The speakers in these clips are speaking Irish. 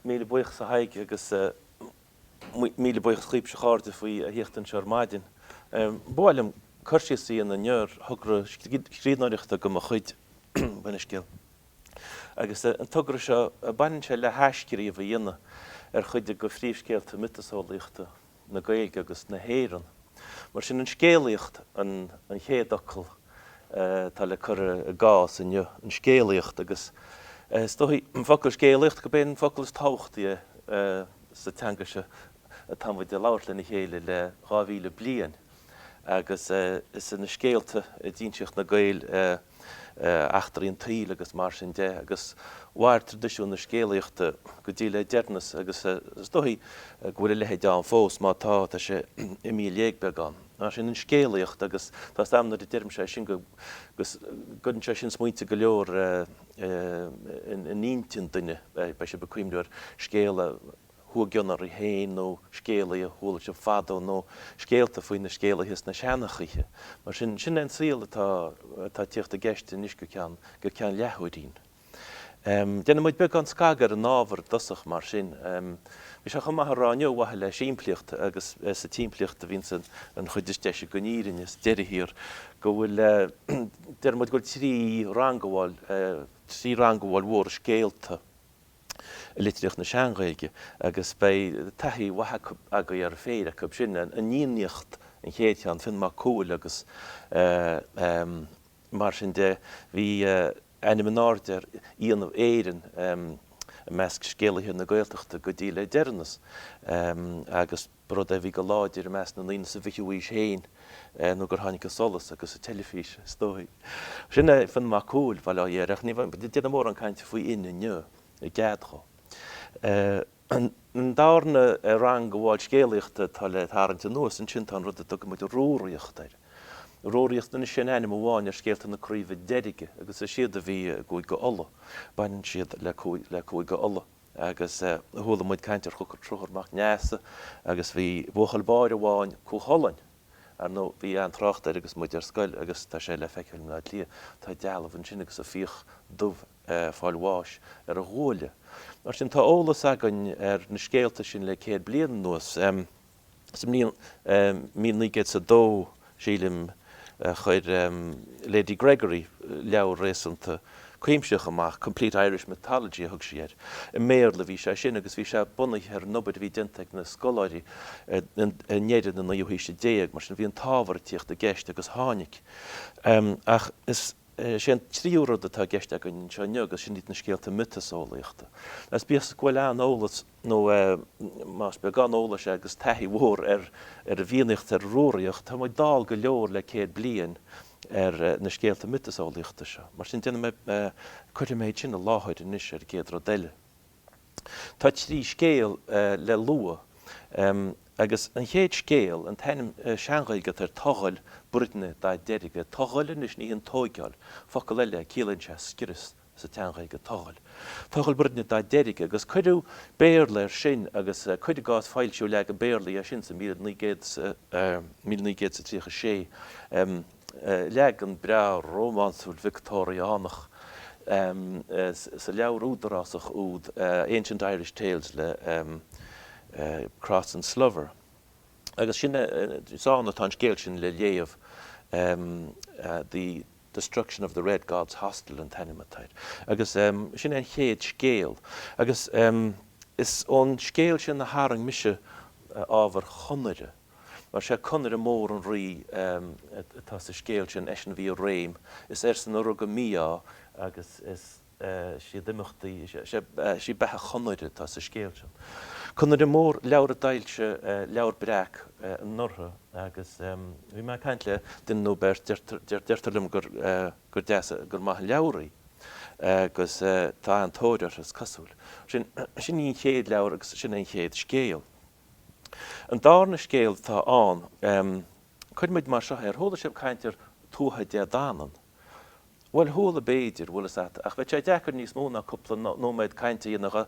Míle buíochas a Thaidhg agus míle buíochas dhaoibhse a chairde faoi thíocht anseo ar maidin. Ba mhaith liom cur síos a dhéanamh inniu ar thogra scríbhneoireachta de mo chuid, Bainne Scéal! agus an togra seo, baineann sé le hathscríobh a dhéanamh ar chuid de phríomhscéalta miotaseolaíochta. na Gaeilge agus na hÉireann. Mar sin, an scéalaíocht an chéad fhocal atá le cur i gcás inniu, an scéalaíocht, agus is dóichí, an focal scéalaíocht, gurb é an focal is tábhachtaí é sa teanga seo atá muid a labhairt lena chéile le dhá mhíle bliain agus is sna scéalta a d'insíodh na Gaeil a eachtraí an tsaoil agus mar sin de, agus mhair traidisiún na scéalaíochta go dtí le deireanas agus is dóichí go bhfuil a leithéid ann fós, má tá, tá sé imithe i léig beagán. Mar sin, an scéalaíocht agus tá a fhios agam nuair a deirimse é sin go, go gcuireann sé sin smaointe go leor in intinn duine, beidh sibh ag cuimhneamh ar scéal a. chuaigh i gcion oraibh féin nó scéalaí a chuala sibh fadó nó scéalta faoi na scéalaithe is na seanchaithe. Mar sin, sin é an saol atá ag tíocht i gceist anois go ceann leathuairín. Déanfaidh muid beagán scagadh ar an ábhar i dtosach mar sin. Bhí sé chomh maith a rá inniu, ar mhaithe le simplíocht agus sa tsimplíocht a bhíonns an chuid is deise den fhírinne sa deireadh thiar, go bhfuil, déarfaidh muid go bhfuil trí rangabháil, trí rangabháil mhóra scéalta. i litríocht na Sean-Ghaeilge, agus beidh taithí mhaith agaibh ar phéire acu sin, an Fhiannaíocht, an chéad cheann, Fionn Mac Cumhaill, agus mar sin de. Bhí ainm in airde ar Fhiannaibh Éireann i measc scéalaithe na Gaeltachta go dtí le deireanas, agus. ba rud é a bhí go láidir i measc na ndaoine sa bhfichiú haois féin nó gur tháinig an solas agus an teilifís, is dóigh. Sin é Fionn Mac Cumhaill, bail ó Dhia air, ach ní déanfar mórán cainte faoi Fhinn inniu, i gcead dhó. An darna rangabháil scéalaíochta atá le tarraingt anuas ansin, tá an rud a dtugann muid Rúraíocht air. Rúraíocht, anois, sin ainm amháin ar scéalta na Craoibhe Deirge, agus is iad a bhí i gCúige Uladh, baineann siad le Cúige Uladh. agus chuala muid caint ar Chonchúr Mac Neasa agus bhí buachaill báire amháin, Cú Chulainn, ar ndóigh, bhí an-trácht air agus muid ar scoil agus tá sé le feiceáil in Áth Cliath, tá dealbh ansin agus an fiach dubh ag fáil bháis ar a ghuaille. Mar sin, tá eolas againn ar na scéalta sin le céad bliain anuas. Sa mbliain 1902, sílim, chuir Lady Gregory leabhar réasúnta cuimsitheach amach, Complete Irish Mythology a thug sí air. I mBéarla a bhí sé sin agus bhí sé bunaithe ar an obair a bhí déanta ag na scoláirí i ndeireadh na naoú haoise déag, mar sin bhí an t-ábhar ag tíocht i gceist agus tháinig. Ach is é an tríú rud atá i gceist againn anseo inniu agus sin iad na scéalta miotaseolaíochta. Agus bíodh is go bhfuil an-eolas. nó más beagán eolais é agus taithí mhór ar an bhFiannaíocht is ar an Rúraíocht, tá muid dall go leor le céad bliain ar na scéalta miotaseolaíochta seo. Mar sin, déanfaidh mé, cuirfidh mé iad sin i láthair anois ar an gcéad rud eile. Tá trí scéal le lua, agus an chéad scéal, an t-ainm Sean-Ghaeilge atá air, Togail Bruidne Dá Derga, Togail anois, ní hin tógáil, focal eile é, ciallaíonn sé scrios, sa tSean-Ghaeilge togail. Togail Bruidne Dá Derga agus cuireadh Béarla air sin agus cuir i gcás foilsíodh leagan Béarla dhe sin sa 1936. Leagan breá rómánsúil Victeoiriánach sa leabhar údarásach úd Ancient Irish Tales le Cross and Slover. Agus sin, is ann atá an scéal sin le léamh, the. Destruction of the Red God's Hostel an t-ainm atá air. Agus sin é an chéad scéal. Agus is ón scéal sin a tharraing mise ábhar Chonaire, mar is é Conaire Mór an rí atá sa scéal sin, eisean a bhí i réim, is airsean a rug an mí-ádh agus is. is iad imeachtaí, is é beatha Chonaire atá sa scéal sin. Conaire Mór, leabhar a d'fhoilsigh Leabhar Breac anuraidh agus bhí mé ag caint le duine nó beirt, deirtear, deirtear liom gur, gur deas, gur maith an leabhar í agus tá an-tóir uirthi is cosúil. Sin, sin í an chéad leabhar agus sin é an chéad scéal. An darna scéal atá ann, cuirfidh muid mar seo é, ar chuala sibh caint ar Tuatha Dé Danann? Bhuel, chuala b'fhéidir, bhfuil fhios a't, ach bheadh sé deacair níos mó ná cúpla nóiméad cainte a dhéanamh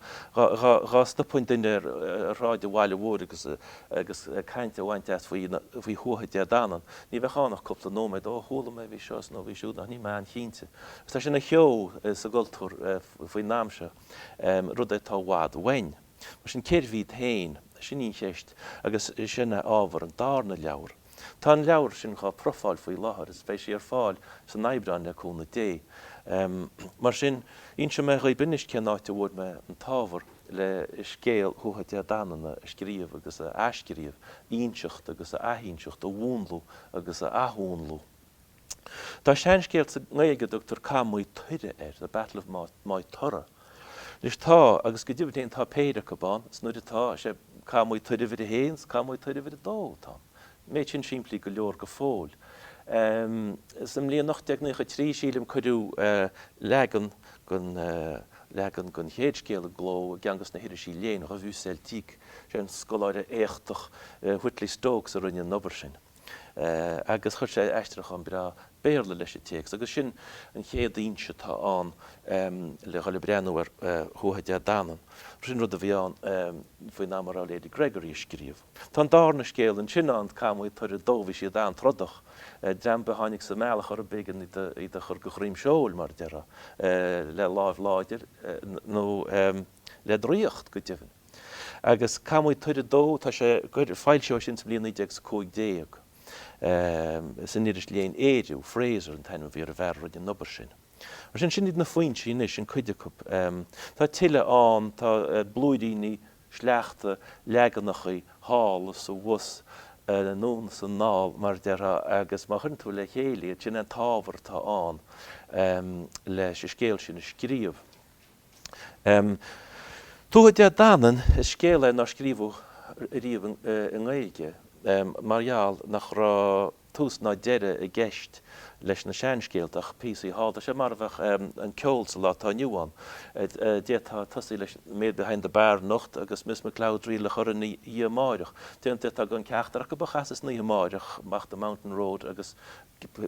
dhá stopainn duine ar shráid an bhaile mhóir agus caint a bhaint as faoi Thuatha Dé Danann. Ní bheadh ann ach cúpla nóiméad, 'Ó, chuala mé, bhí seo is nó bhí siúd, ach níl mé an-chinnte. Agus tá sé ina cheo sa gcultúr faoin am seo, rud é atá i bhfad uainn. Mar sin, cérbh iad féin? Sin í an cheist, agus sin é ábhar an darna leabhar. Tá an leabhar sin dhá profáil faoi láthair, is beidh sí ar fáil san Aibreán le cúnamh Dé. Mar sin, inseoidh mé dhaoibh anois cén áit a bhfuair mé an t-ábhar le scéal Thuatha Dé Danann a scríobh agus a athscríobh, a inseacht agus a athinseacht, a mhúnlú agus a athmhúnlú. Tá seanscéal sa nGaeilge a dtugtar Cath Maigh Tuireadh air, the battle of Maigh Tuireadh. Anois tá, agus go deimhin féin tá péire acu ann, is mar atá sé Cath Maigh Tuireadh uimhir a haon is Cath Maigh Tuireadh uimhir a dó atá ann. An méid sin simplí go leor go fóill. Sa mbliain 1893, sílim, cuireadh leagan leagan den chéad scéal i gcló i gceann de na hirisí léinn, Revue Celtique. Is é an scoláire éachtach Whitley Stokes a rinne an obair sin. agus chuir sé aistriúchán breá Béarla leis an téacs, agus sin an chéad fhoinse atá ann le dhul ag breathnú ar Thuatha Dé Danann. Sin rud a bhí ann faoin am a raibh Lady Gregory ag scríobh. Tá an darna scéal ansin ann, Cath Maigh Tuireadh a Dó, bhí siad an-trodach, dream a tháinig sa mbealach orthu, b'éigean iad a chur go droim seoil, mar a déarfá, le láimh láidir nó, le draíocht, go deimhin. Agus Cath Maigh Tuireadh a Dó, tá sé, foilsíodh é sin sa bhliain 1915 san iris léinn Ériu, Frazer an t-ainm a bhí ar an bhfear a rinne an obair sin. Mar sin, sin iad na foinsí anois, nó cuid acu. Tá tuilleadh ann, tá blúiríní, sleachta, leaganachaí, thall is abhus, anonn is anall, mar a déarfá, agus má chuireann tú le chéile iad, sin é an t-ábhar atá ann leis an scéal sin a scríobh. Tuatha Dé Danann, is scéal é nár scríobhadh riamh i nGaeilge mar gheall nach raibh tús ná deireadh i gceist leis na seanscéalta ach píosaí thall. Tá sé mar a bheadh an ceol sa lá atá inniu ann. D'fhéadfá tosaí leis The Maid Behind the Bar anocht agus Miss McLeod's Reel a chur ina dhiaidh amárach. D'fhéadfá gan ceachtar acu a chasadh san oíche amárach, ach The Mountain Road agus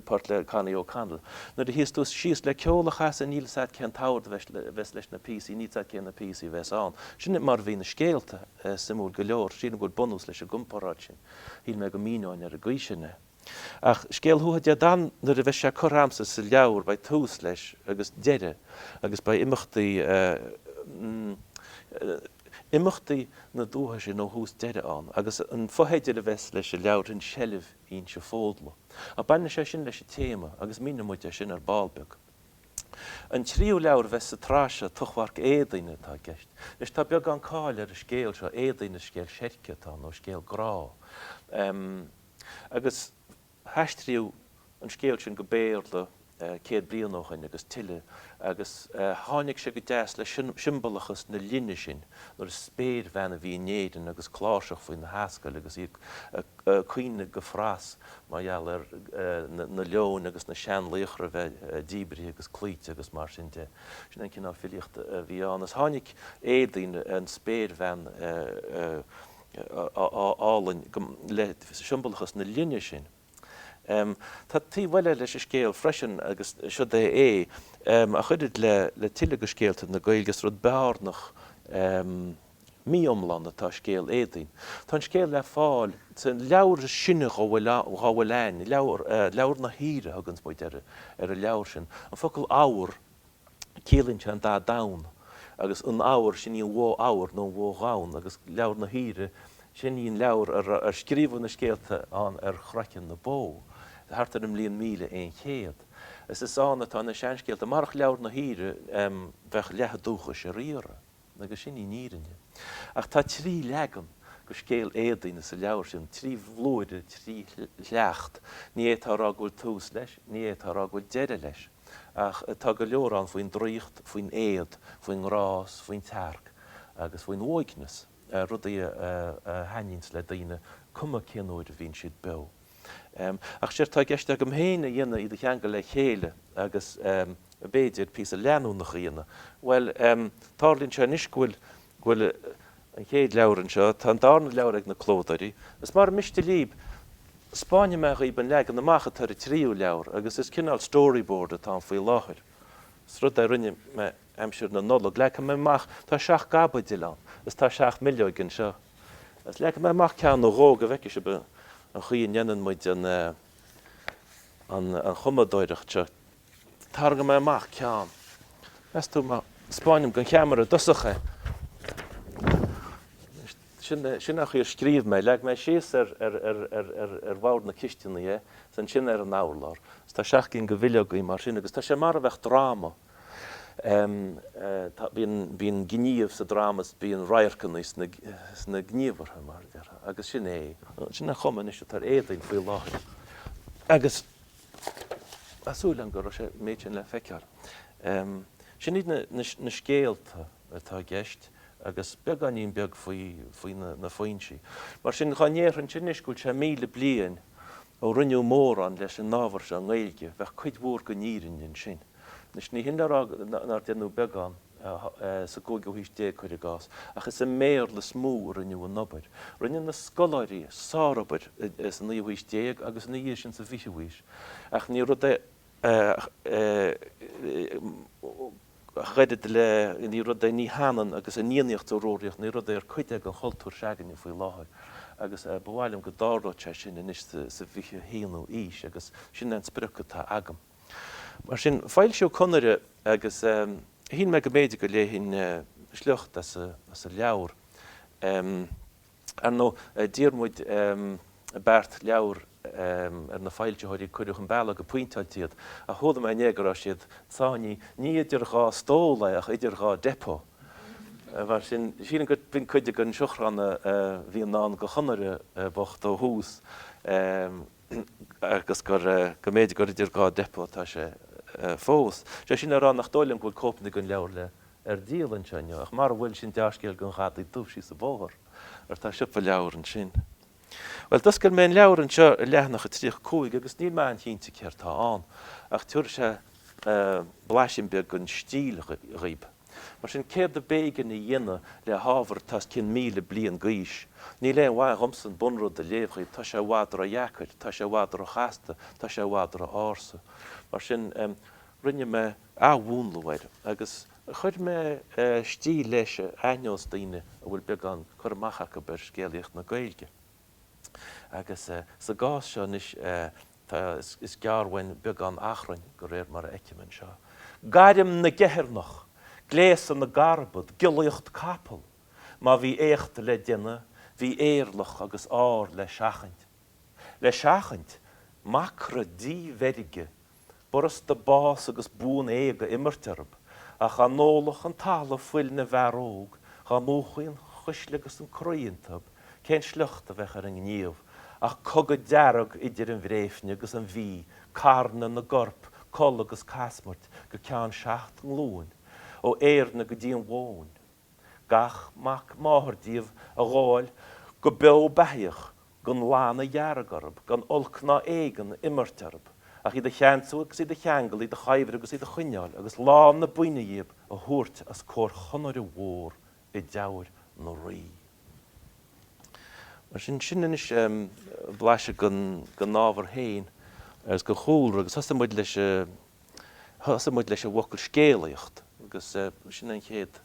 port le Connie O'Connell. Nuair a shuíos tú síos le ceol a chasadh níl fhios a'd cén t-ord a bheas leis na píosaí, níl fhios a'd cé na píosaí a bheas ann. Sin mar a bhí na scéalta, suimiúil go leor. Sílim go bhfuil bunús leis an gcomparáid sin. Shíl mé go míneoinn ar an gcaoi sin é. Ach scéal Thuatha Dé Danann, nuair a bheas sé curtha a'msa sa leabhar beidh tús leis agus deireadh agus beidh imeachtaí imeachtaí na dúiche sin ó thús deireadh ann agus an fotheideal a bheas leis an leabhar sin Seilbh Inse Fódla. Ach baineann sé sin leis an téama agus míneoidh muid é sin ar ball beag. An tríú leabhar a bheidh sa tsraith seo, Tochmharc Éadaoine, atá i gceist. Anois, tá beagán cáil ar an scéal seo, Éadaoin is scéal seirce atá ann, nó scéal grá. Agus haistríodh an scéal sin go Béarla céad bliain ó shin agus tuilleadh, agus tháinig sé go deas le siombalachas na linne sin nuair is spéirbhean a bhí in Éirinn agus cláirseach faoina hascaill agus í ag caoineadh go fras mar gheall ar na leoin agus na seanlaochra a bheith díbrithe agus cloíte agus mar sin de. Sin an cineál filíochta a bhí ann. Is tháinig Éadaoin, an spéirbhean álainn, le siombalachas na linne sin. Tá taobh eile leis an scéal freisin agus siod é é a chuirfidh le tuilleadh de scéalta na Gaeilge. Is rud bearnach, mí-iomlán atá i scéal Éadaoin. Tá an scéal le fáil sa leabhar is sine dá bhfuil ann, Leabhar na hUidhre a thuganns muid ar an leabhar sin. An focal 'odhar' ciallaíonn sé an dath donn, agus an Odhar, sin í an bhó odhar nó an bhó dhonn, agus Leabhar na hUidhre, sin í an leabhar ar scríobhadh na scéalta ann ar chraiceann na bó, thart ar an mbliain míle aon chéad. Is ann atá na seanscéalta. Marach Leabhar na hUidhre, bheadh leath an dúchais ar iarraidh. Agus sin í an fhírinne. Ach tá trí leagan de scéal Éadaoine sa leabhar sin, trí bhlúire, trí shliocht. Ní fhéadfá a rá go bhfuil tús leis, ní fhéadfá a rá go bhfuil deireadh leis. Ach tá go leor ann faoin draíocht, faoin éad, faoin ngrá is faoin tsearc agus faoin uaigneas, rudaí a thaitníonns le daoine cuma cén uair a bhíonn siad beo. Ach séard atá i gceist agam féin a dhéanamh iad a cheangal le chéile agus, b'fhéidir, píosa leanúnach a dhéanamh. Bhuel, tarlaíonn sé anois go bhfuil an chéad leabhar anseo, tá an darna leabhar ag na clódóirí. Is mara miste lib, spáinfidh mé dhaoib an leagan amach atá ar an tríú leabhar agus is cineál storyboard atá ann faoi láthair. Is rud é a rinne mé aimsir na Nollag. Leagfaidh mé amach, tá seacht gcaibidil ann, is tá seacht mbileog anseo, is leagfaidh mé amach ceann nó dhó go bhfeice sibh an chaoi a ndéanann muid an chumadóireacht seo. Tarraingeoidh mé amach ceann. Meas tú má spáinim don cheamara i dtosach é? Sin an chaoi ar scríobh mé. Leag mé síos ar bhord na cisteanaí é, is ansin ar an urlár, is tá seacht gcinn de bhileogaí mar sin agus tá sé mar a bheadh dráma. Bíonn gníomh sa dráma is bíonn radharcanna sna gníomhartha, mar a déarfá, agus sin é. Sin an chuma anois atá ar Éadaoin faoi láthair agus tá súil agam go raibh sé méid sin le feiceáil. Sin iad na scéalta atá i gceist agus beagáinín beag faoi na foinsí. Mar sin dhá ndéarfainn sin anois go bhfuil sé míle bliain Ó rinneadh mórán leis an ábhar seo i nGaeilge, bheadh cuid mhór den fhírinne ansin. Anois, ní hin le rá nár déanadh beagán sa gcúigiú haois déag, cuir i gcás, ach is i mBéarla is mó a rinneadh an obair. Rinne na scoláirí sárobair sa naoú haois déag agus ina dhiaidh sin sa bhfichiú haois, ach ní rud é cuireadh le, ní rud é, ní hionann agus an Fhiannaíocht is an Rúraíocht, ní rud é ar cuid é den chultúr se'againne faoi láthair agus ba mhaith liom go dtarlódh sé sin anois sa bhfiche haonú aois agus sin é an sprioc atá agam. Mar sin, foilsíodh Conaire agus shíl mé go mb'fhéidir go léifinn sliocht as an leabhar. Ar ndóigh, d'iarr muid beart leabhar ar na foilsitheoirí agus cuireadh chun bealaigh go pointeáilte iad, ach chuala mé inné go raibh siad sáinnithe, ní idir dhá stól é ach idir dhá depot. Mar sin, sílim gur b'in cuid den seachrán a bhí i ndán do Chonaire bocht ó thús. agus gur, go mb'fhéidir gur idir dhá depot atá sé fós. Is é sin le rá nach dóigh liom go bhfuil cóipeanna den leabhar le, ar díol anseo inniu, ach mara bhfuil, sin dea-scéal don Ghadaí Dubh síos an bóthar, mar tá siopa leabhar ansin. Bhuel, d'oscail mé an leabhar anseo ar leathanach a 35 agus níl mé an-chinnte céard tá ann, ach tabharfaidh sé blaiseadh beag den stíl dhaoib. Mar sin, céard ab éigean a dhéanamh le hábhar atá os cionn míle bliain d'aois? Níl aon mhaith dhomsa an bunrud a léamh dhaoibh, tá sé i bhfad ró-dheacair, tá sé i bhfad ró-chasta, tá sé i bhfad ró-ársa. Mar sin, rinne mé athmhúnlú air agus chuir mé stíl leis a aithneos daoine a bhfuil beagán cur amach acu ar scéalaíocht na Gaeilge. Agus sa gcás seo anois, Tá, is gearr uainn beagán achrainn de réir mar a fheicim anseo, gairm na gceithearnach, gléasadh na gcarbad, giollaíocht capall. Má bhí éacht le déanamh, bhí éirleach agus ár le seachaint. Le seachaint? Macra díbheirge! B'fhurasta bás agus buan éag a imirt orthu, ach dhá n-ólfadh an talamh fuil na bhfear óg, dhá múchfaí an chuisle agus an croí iontu, Cén sliocht a bheadh ar an ngníomh ach cogadh dearg idir an Bhréifne agus an Mhí, carnadh na gcorp, col agus casmairt go ceann seacht nglúin, ó Éirne go dtí an Bhóinn. Gach mac máthar díobh a ghabháil go beo beathaíoch, gan lann a dheargadh orthu, gan olc ná éigean a imirt orthu, ach iad a cheansú agus iad a cheangal, iad a chuibhriú agus iad a choinneáil, agus lán na buíne dhíobh a thabhairt os comhair Chonaire Mhór i dTeamhair na Rí. Mar sin, sin anois blaiseadh den ábhar féin agus den chúlra agus thosaigh muid leis thosaigh muid leis an bhfocal scéalaíocht agus sin an chéad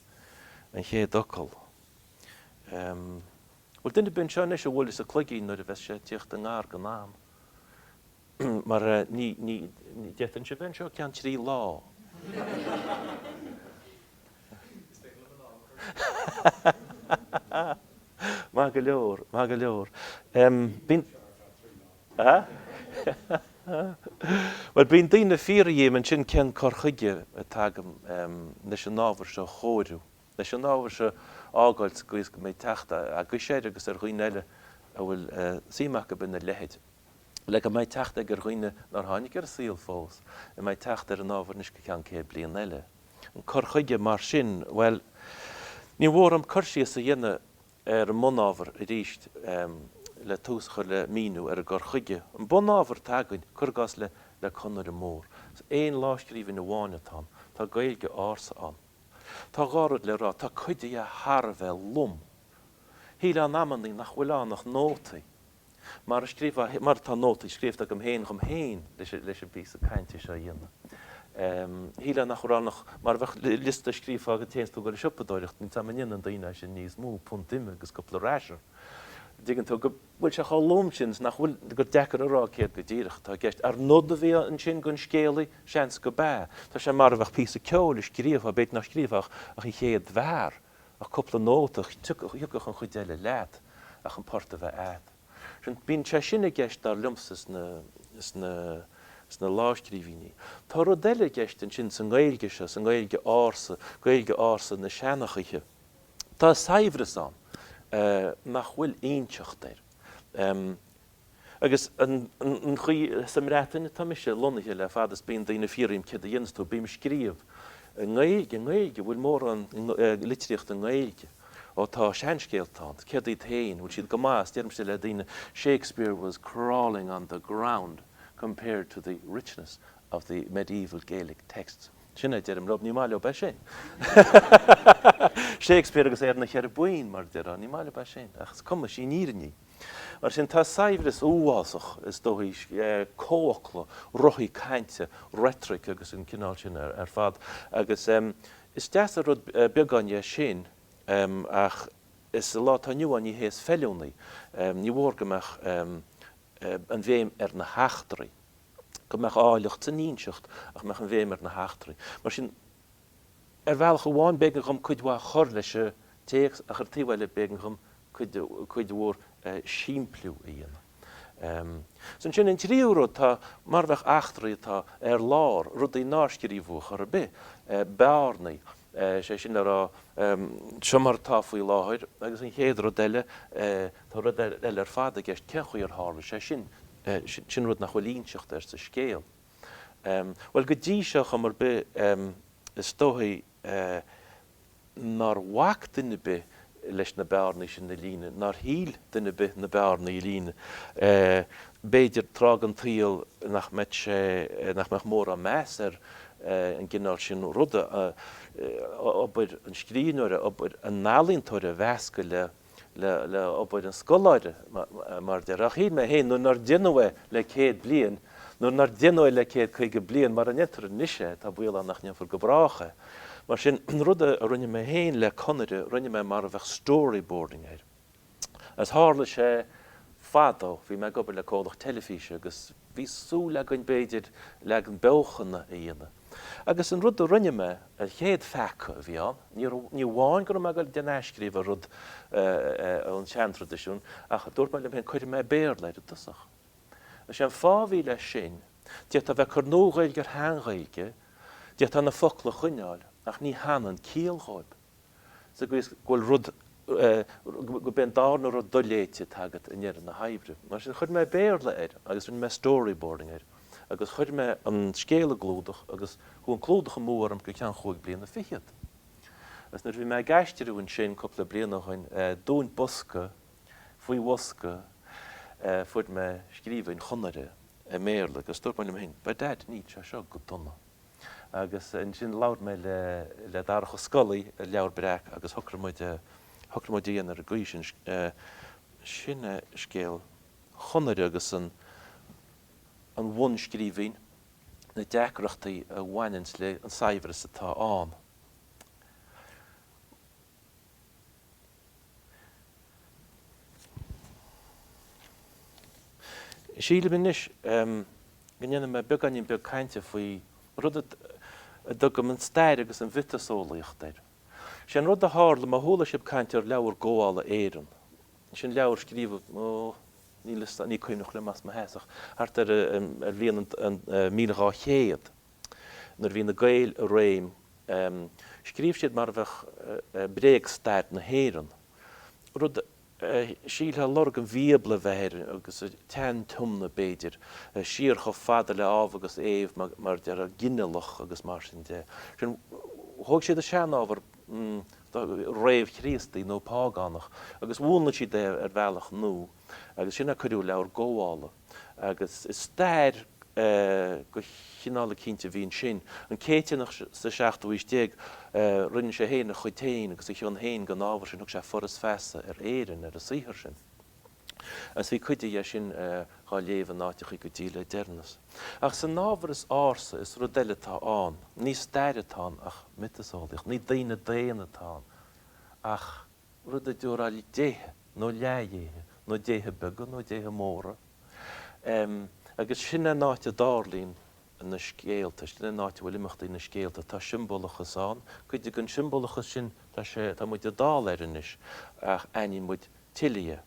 an chéad fhocal. An bhfuil duine ar bith anseo anois a bhuailfeas an cloigín nuair a bheas sé ag tíocht i ngar don am. mar d'fhéadfainnse a bheith anseo go ceann trí lá. Is féidir liom an am a chur síos anseo. Maith go leor, maith go leor. Bheinn anseo ar feadh trí lá. Bhuel, bíonn daoine ag fiafraí dhíom ansin cén cur chuige atá agam leis an ábhar seo a chóiriú. leis an ábhar seo a fhágáil sa gcaoi is go mbeidh teacht agaibhse air agus ag daoine eile a bhfuil suim acu ina leithéid, le go mbeidh teacht ag daoine nár tháinig ar an saol fós, go mbeidh teacht ar an ábhar anois go ceann céad bliain eile. An cur chuige mar sin, bhuel, ní mór dhom cur síos a dhéanamh ar an mbunábhar arís le tús a chur le míniú ar an gcur chuige. An bunábhar atá againn, cur i gcás le Conaire Mór, is aon lámhscríbhinn amháin atá ann, tá Gaeilge ársa ann, Tá dhá rud le rá, tá cuid dhe thar a bheith lom. Shílfeá amannaí nach bhfuil ann ach nótaí, mar a scríobhfá, mar atá nótaí scríobhta agam féin dhom féin leis an bpíosa cainte seo a dhéanamh. Shílfeá nach bhfuil ann ach mar a bheadh liosta a scríobhfá dá dtéann tú le siopadóireacht, má tá go ndéanann daoine é sin níos mó, punt ime agus cúpla rasher. An dtuigeann tú go. bhfuil sé chomh lom sin is nach bhfuil, gur deacair a rá céard go díreach atá i gceist. Arbh nod a bhí ansin don scéalaí? Seans gurb ea. Tá sé mar a bheadh píosa ceoil a scríobhfá, b'fhéidir nach scríobhfá ach an chéad bharr, ach cúpla nóta, thiocfadh an chuid eile leat ach an port a bheith agat. Sin, bíonn sé sin i gceist dar liomsa sna lámhscríbhinní. Tá rud eile i gceist ansin sa nGaeilge seo, sa nGaeilge ársa, Gaeilge ársa na seanchaithe. Tá saibhreas ann nach bhfuil inseacht air. Agus an chaoi, sa mBreatain atá mise lonnaithe le fada is bíonn daoine ag fiafraí díom céard a dhéanas tú, bím ag scríobh i nGaeilge, i nGaeilge, bhfuil mórán litríochta i nGaeilge? Ó tá seanscéalta ann, céard iad féin, bhfuil siad go maith? Is deirimse le daoine, Shakespeare was crawling on the ground compared to the richness of the medieval Gaelic texts. Sin a deirim leob, ní maith leob é sin. Shakespeare agus é ar na ceithre boinn, mar a déarfá, ní maith leob é sin. Ach is cuma, sin an fhírinne. Mar sin, tá saibhreas uafásach, is dóigh, comhfhocla, ruthaig cainte, reitric agus an cineál sin ar fad, agus is deas an rud beagáinín de sin, ach sa lá atá inniu ann ní hé is feiliúnaí, ní mór go mbeadh an bhéim ar na heachtraí. go mbeadh áilleacht san inseacht ach go mbeadh an bhéim ar na heachtraí. Mar sin, ar bhealach amháin b'éigean dhom cuid mhaith a chur leis an téacs ach ar an taobh eile b'éigean dhom cuid mhór simpliú a dhéanamh. Ansin, an tríú rud, tá mar a bheadh eachtraí atá ar lár, rudaí nár scríobhadh a chor ar bith, bearnaí. is é sin le rá, seo mar atá faoi láthair, agus an chéad rud eile, tá rud eile ar fad i gceist, cén chaoi ar tharla sé sin? Sin rud nach bhfuil inseacht air sa scéal. Bhuel, go dtí seo, chuma ar bith, is dóichí nár bhac duine ar bith leis na bearnaí sin a líonadh nár cheart do dhuine ar bith na bearnaí a líonadh, b'fhéidir, tráth den tsaol nach mbeadh sé, nach mbeadh mórán meas ar an gcineál sin ruda, obair an scríbhneora, obair an ealaíontóra a mheascadh le, le, le obair an scoláire, mar a déarfá. Ach shíl mé féin, nuair nár deineadh é le céad bliain, nuair nár deineadh é le céad caoga bliain, mara ndéantar anois é, tá baol ann nach ndéanfar go brách é. Mar sin, an rud a rinne mé féin le Conaire, rinne mé mar a bheadh storyboarding air. Agus tharla sé, fadó, bhí mé ag obair le comhlacht teilifíse agus bhí súil againn, b'fhéidir, leagan beochana a dhéanamh. Agus an rud a rinne mé, an chéad pheaca a bhí ann, ní raibh, ní amháin go raibh mé ag dul a dhéanamh athscríobh ar rud ón seantraidisiún, ach dúirt mé liom féin, cuirfidh mé Béarla air i dtosach. Is é an fáth a bhí leis sin, d'fhéadfá a bheith ag cur Nua-Ghaeilge ar Shean-Ghaeilge, D'fhéadfá na focla a choinneáil ach ní hanann ciall dhóib, sa gcaoi is go bhfuil rud, gob é an darna rud doléite atá agat i ndeireadh na hoibre. Mar sin, chuir mé Béarla air agus rinne mé storyboarding air agus chuir mé an scéal i gclúdach agus chuaigh an clúdach amú orm go ceann chúig bliana fichead. Agus nuair a bhí mé ag aistriú ansin cúpla bliain ó shoin, i dtóin bosca, faoi bhosca eh. fuair mé scríbhinn Chonaire i mBéarla agus dúirt mé liom féin, by dad, níl sé seo go dona. Agus ansin labhair mé le, le Darach Ó Scolaí as Leabhar Breac agus shocraigh muid, shocraigh muid a dhéanamh ar an gcaoi sin, eh. sin é scéal Chonaire agus an, an bhunscríbhinn, na deacrachtaí a bhaineanns léi, an saibhreas atá ann. Sílim anois go ndéanfaidh mé beagáinín beag cainte faoi rud a dtugaim an stair agus an mhiotaseolaíocht air. Is é an rud a tharla, má chuala sibh caint ar Leabhar Gabhála Éireann, sin leabhar a scríobhadh, ó, níl 'fhios a'm, ní cuimhneach liom as mo sheasamh, thart ar an bhliain 1200. nuair a bhí na Gaeil i réim, scríobh siad mar a bheadh bréagstair na hÉireann, rud a shílfeá lorg an Bhíobla a bheith air, agus an tSean-Tiomna, b'fhéidir, siar chomh fada le hÁdhamh agus Éabh, mar a déarfá, ginealach agus mar sin de. Sin, thóg siad an seanábhar réamh-Chríostaí nó págánach agus mhúnlaigh siad é ar bhealach nua agus sin a cuireadh i Leabhar Gabhála. agus is stair de chineál eicínt a bhí ansin. An Céitinneach sa seachtú haois déag, rinne sé féin a chuid féin agus a chion féin den ábhar sin, thug sé Foras Feasa ar Éirinn ar an saothar sin, agus bhí cuid dhe sin dhá léamh in áiteachaí go dtí le deireanas. Ach san ábhar is ársa, is rud eile atá ann. Ní stair atá ann ach miotaseolaíocht, ní daoine daonna atá ann ach. rud a dtiúrfá déithe, nó leathdhéithe, nó déithe beaga, nó déithe móra, agus sin é an áit a dtarlaíonn na scéalta, sin é an áit a bhfuil imeachtaí na scéalta. Tá siombalachas ann, cuid den siombalachas sin, tá sé, tá muid dall air anois, ach aithníonn muid tuilleadh,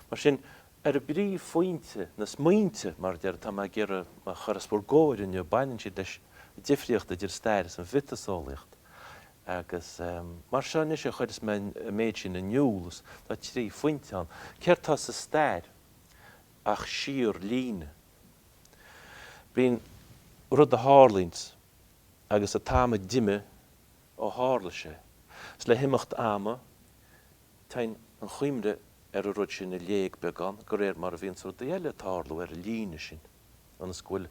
Mar sin, ar an bpríomhphointe, na smaointe, mar a deir, atá mé ag iarraidh a chur os bhur gcomhair inniu, baineann siad leis an difríocht idir an stair is an mhiotaseolaíocht. Agus mar seo anois a chuireas mé an méid sin in iúl, tá trí phointe ann. Céard tá sa stair ach síor líne. Bíonn rud a tharlaíonns agus an t-am a d'imigh ó tharla sé. Is le himeacht ama, Téann an chuimhne ar an rud sin i léig beagán de réir mar a bhíonns rudaí eile ag tarlú ar an líne sin, ionas go bhfuil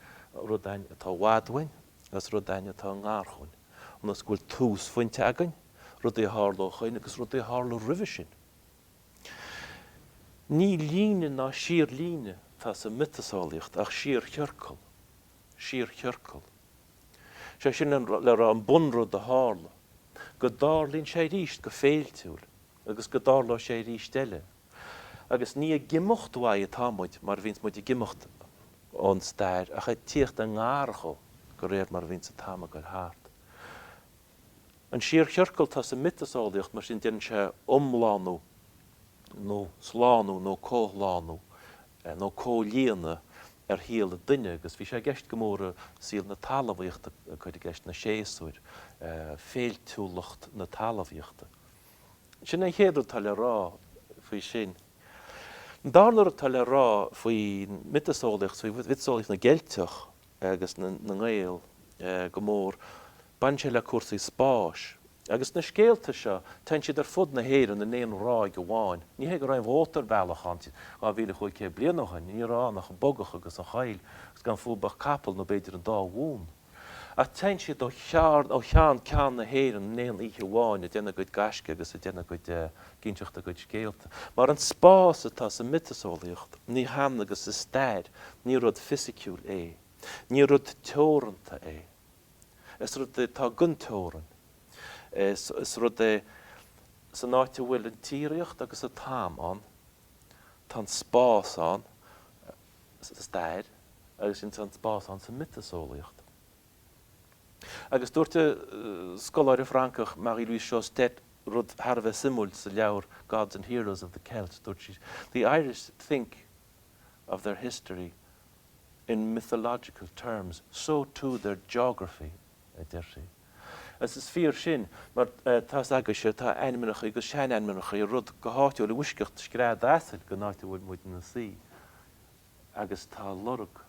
rud againn atá i bhfad uainn agus rud againn atá i ngar dhúinn, ionas go bhfuil túsphointe againn, rudaí a tharla ó shoin agus rudaí a tharla roimhe sin. Ní líne ná síorlíne atá sa mhiotaseolaíocht ach síorchiorcal. síorchiorcal. Sé sin le rá an bunrud a tharla, go dtarlaíonn sé arís go féiltiúil agus go dtarlóidh sé arís eile. Agus ní ag imeacht uaidh atá muid mar a bhíonns muid ag imeacht ón stair ach ag tíocht i ngar dho go réir mar a bhíonns an t-am ag dul thart. An síorchiorcal atá sa mhiotaseolaíocht, mar sin, déanann sé iomlánú nó slánú nó comhshlánú nó comhlíonadh ar shaol an duine agus bhí sé i gceist go mór i saol na talmhaíochta, ag cur i gceist na séasúir, féiltiúlacht na talmhaíochta. Sin an chéad rud atá le rá faoi sin. An darna rud atá le rá faoin miotaseolaíocht, faoi mhiotaseolaíocht na gCeilteach agus na nGael go mór, Baineann sé le cúrsaí spáis. Agus na scéalta seo, téann siad ar fud na hÉireann in aon ráig amháin. Ní hé go raibh an mótarbhealach ann 2,500 bliain ó shin, ní raibh ann ach an bogach agus an choill, agus gan fáil ach capall, nó b'fhéidir an dá bhonn. Ach téann siad ó chearn, ó cheann ceann na hÉireann in aon oíche amháin, ag déanamh a gcuid gaisce agus ag déanamh a gcuid, ag inseacht a gcuid scéalta. Mar an spás atá sa mhiotaseolaíocht, ní hionann agus sa stair, ní rud fisiciúil é. Ní rud teoranta é. Is rud é atá gan teorainn. Is rud é, san áit a bhfuil an tsíoraíocht agus an t-am ann, tá an spás ann sa stair agus sin tá an spás ann sa mhiotaseolaíocht. Agus dúirt an scoláire Francach Marie-Louise Sjoestedt rud thar a bheith suimiúil sa leabhar Gods and Heroes of the Celt, dúirt sí, The Irish think of their history In mythological terms, so too their geography, a deirtí. Agus is fíor sin, mar tá's agaibhse, tá ainmneacha agus seanainmneacha ar rudaí go háitiúil i bhfoisceacht scread asail den áit a bhfuil muid ina suí. Agus tá lorg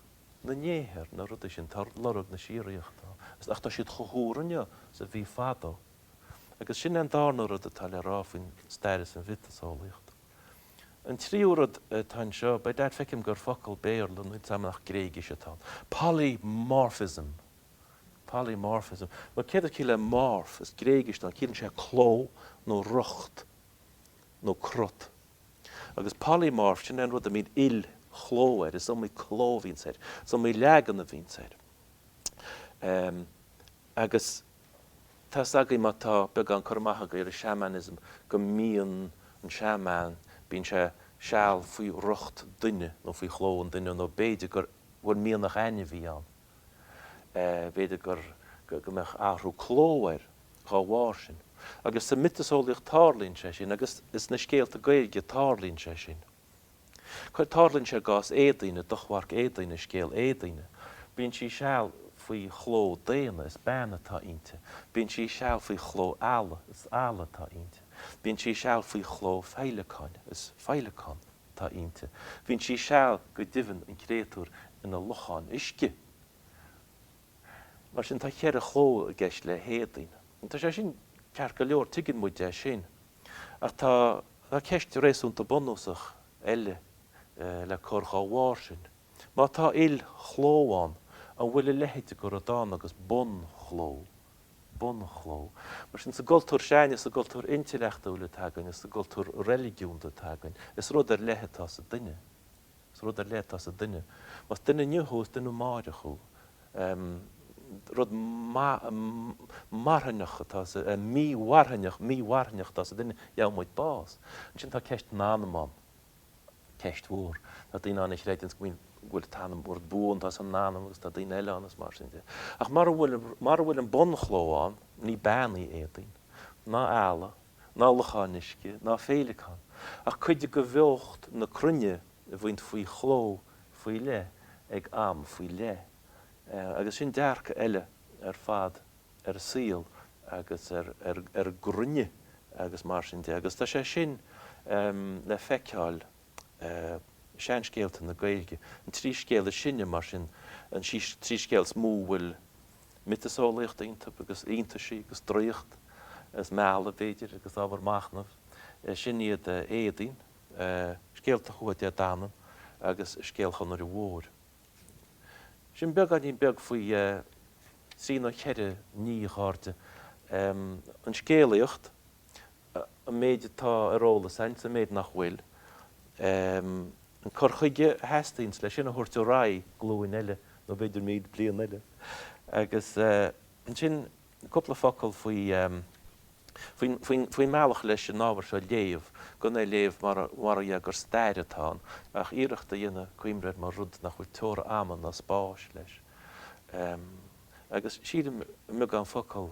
na ndéithe ar na rudaí sin, tá lorg na síoraíochta ann. Ach tá siad chomh húr inniu is a bhí fadó. Agus sin an darna rud atá le rá faoin stair is an mhiotaseolaíocht. An tríú rud atá anseo, b'fhéidir, feicim gur focal Béarla nó is dá mba nach Gréigis atá ann, polymorphism, polymorphism. Bhuel, céard is ciall le morph? Is Gréigis atá ann, ciallaíonn sé cló nó rocht nó cruth. Agus polymorph, sin é an rud a mbíonn il-chló air, is iomaí cló a bhíonns air, is iomaí leagan a bhíonns air. Agus. Tá's agaibh, má tá beagán cur amach agaibh ar an seamainisim, go mbíonn an seaman, bíonn sé seal faoi rocht duine nó faoi chló an duine nó b'fhéidir go mbeadh mianach ainmhí ann. B'fhéidir go go mbeadh athrú cló air dhá bharr sin. Agus sa mhiotaseolaíocht tarlaíonn sé sin agus is sna scéalta Gaeilge tarlaíonn sé sin. Cuir tarlaíonn sé i gcás Éadaoine, i dTochmharc Éadaoine, i scéal Éadaoine. Bíonn sí seal faoi chló daonna, is bean atá inti. Bíonn sí seal faoi chló eala, is eala atá inti. Bíonn sí seal faoi chló feidhleacáin, is feidhleacán atá inti. Bíonn sí seal, go deimhin, an créatúir, ina lochán uisce. Mar sin, tá ceithre chló i gceist le hÉadaoin. Tá sé sin ceart go leor, tuigeann muid é sin. Ach tá tá ceist réasúnta bunúsach eile le cur dhá bharr sin. Má tá il-chló ann, an bhfuil a leithéid de rud ann agus bunchló? Bunchló? Mar sin, sa gcultúr seo againne is sa gcultúr intleachtúil atá againn is sa gcultúr reiligiúnda atá againn, is rud ar leith atá sa duine. Is rud ar leith atá sa duine. Más duine inniu thú, is duine amáireach thú. Rud marthanach atá sa, mí-mharthaineach, mí-mharthanach atá sa duine, gheobha muid bás. Ansin tá ceist an anam ann. Ceist mhór. Tá daoine ann a chreideanns go mbíonn, go bhfuil an t-anam, rud buan atá san anam agus tá daoine eile ann is mar sin de. Ach mura bhfuil, mura bhfuil an bunchló ann, ní bean í Éadaoin. Ná eala. ná lochán uisce, ná féileacán, ach cuid de bheocht na cruinne a bhíonns faoi chló faoi leith ag am faoi leith. Agus sin dearcadh eile ar fad ar an saol agus ar an gcruinne agus mar sin de. Agus tá sé sin le feiceáil i seanscéalta na Gaeilge. An trí scéal is sine, mar sin, an trí scéal is mó a bhfuil miotaseolaíocht iontu, agus iontaisí, agus draíocht, agus mealladh, b'fhéidir, agus ábhar machnaimh. Sin iad Éadaoin, scéalta Thuatha Dé Danann agus scéal Chonaire Mhóir. Sin beagáinín beag faoi thrí nó cheithre ní, a chairde, an scéalaíocht, an méid atá ar eolas a'inn, an méid nach bhfuil, an cur chuige a theastaíonns le sin a thabhairt ar aghaidh glúin eile nó b'fhéidir míle bliain eile. Agus ansin cúpla focal faoi, faoin, faoin, faoin mbealach leis an ábhar seo a léamh, gan é a léamh mar, mar ó dhea gur stair atá ann, ach iarracht a dhéanamh cuimhneamh air mar rud nach bhfuil teora ama ná spáis leis. Agus sílim i mbeagán focal.